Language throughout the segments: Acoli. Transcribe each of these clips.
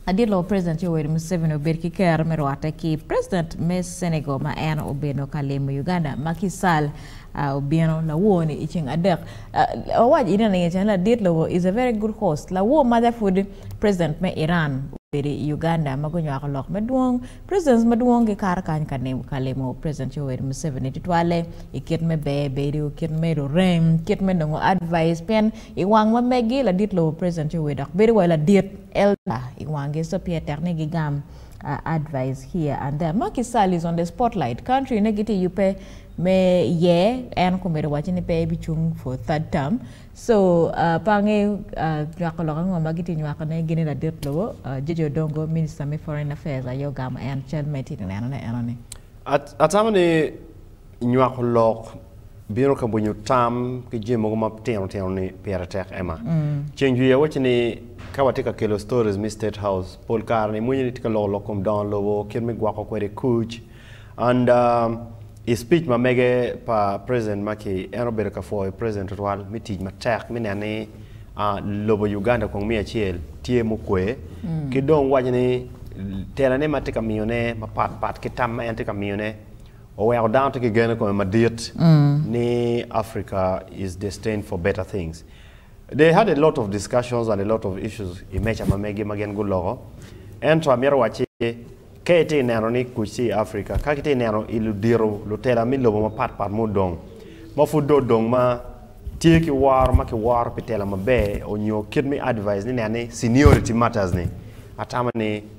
Adilo President Yoweri Museveni obed ki kero me rwate ki President me Senegal ma en obeno ka limo Uganda ma ki sal a obino lawo ni i ceng adek. Awac ine ni cen ladit lobo is a very good host. Lawo maja pud President me Iran obedo i Uganda ma gunywako lok madwong. Presidents madwong gikato kany ka limo President Yoweri Museveni tutwalle i kit me ber bedo, kit me rurem, kit me nongo advice pien i wang ma megi ladit lobo President Yoweri dok bedo wa ladit. Elder i wangi so pye tek ni gi gam advise here and there. Macky Sall is on the spotlight, country ne gitye yubbe me yer en okomedo waco ni pe ebi cung for third term so pe ange nywako lok ango ma gitye nywako ne gini ladit lobo Jeje Odongo minister me foreign affairs aye ogamo en cal ma itye ka neno ne enoni. Atamo ni. Nywako lok bino ka winyo tam ki jami mogo ma tino tino ni pire tek Emma. Ceng jwi awaci ni ka watye ka kelo stories me state house pol kare ni mwenyo ni tye ka loko lok kom dongo lobo kit me gwoko kwede kuc and I speech ma mege pa president ma ki en obedo ka pwoyo president tutwal me tic matek me neno ni lobo Uganda kong miya acel tye mukwe ki dong waco ni tela ne ma tye ka miyo ne mapat pat ki tam ma en tye ka miyo ne Oweko dano tye ki gen i kome madit ni Africa is destined for better things. They had a lot of discussions and a lot of issues i meja ma megi ma gin guloko. Ento amito wac ci ka itye ka neno ni kuc tye i Africa, ka kitye ka neno i ludito, lutela me lobo mapat pat ma odong, ma pud dong odong ma tye ki woro ma kiworo pi tela maber onyo kit me advise ni nen ni seniority matters ni, atamo ni.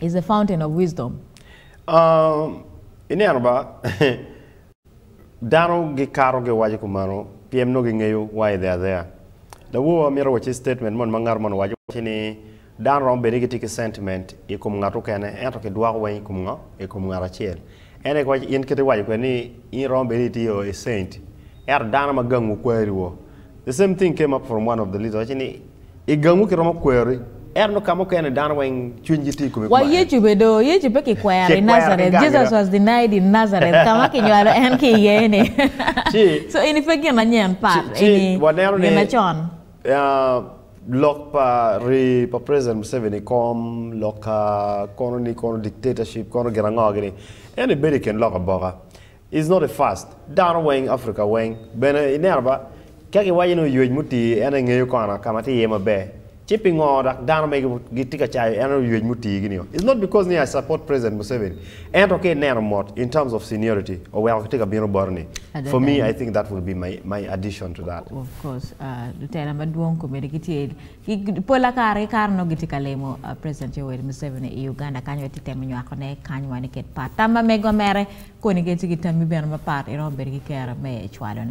is the fountain of wisdom. Um, ineno ba, dano gikato giwaco kumano, pyem nongo gingeyo wa idhe adheya. Lawowa mito waci statement mon ma ngat mon owaco waci ni dano romo bed ni gitye ki sentiment i kom ngat okene ento kidwoko weng i kom ngo? I kom ngat acel. En aye kawacci in kite iwaco kwede ni in iromo bedo ni itye o a saint ento dano ma gangwu kwari wo the same thing came up from one of the leader wacci ni igangwu kiromo kwari ento nongo kama okene dano weng cwiny gi tye ikome Wa kuma en Yecu be do, Yecu pe ki kwero i Kikwero ki Nazareth. gangi Jesus dong. was denied in Nazareth, ka ma kinywalo en ki iye-ni. Ci- So eni pe gin anyen, pat, Ci- ci eni waneno ni- ginacon. Ya lok pa rii pa president Museveni i kom lok ka kono ni kono dictatorship kono gin ango gini? En ni bedo i kin lok aboka is not a fast. Dano weng Africa weng bene i neno ba ka ki waco ni oyuec muti en engeyo kono ka ma tye iye maber ci pingo dok dano mege gitye ka cayo en oyuec muti gini o? Is not because ni I support president Museveni Ento ka ineno mot in terms of seniority oweko kitye ka bino boti ni for me I think that will be my my addition to that. Of course lutela madwong komiti gitye pola kare ki kare nongo gitye ka limo president Yoweri Museveni i Uganda kany wek gitemo nywako ne kany wa ni ket pat tam ma mege wa mere koni ki ci ki tammi bene mapat iromo bedo ki kero me cwalo ne.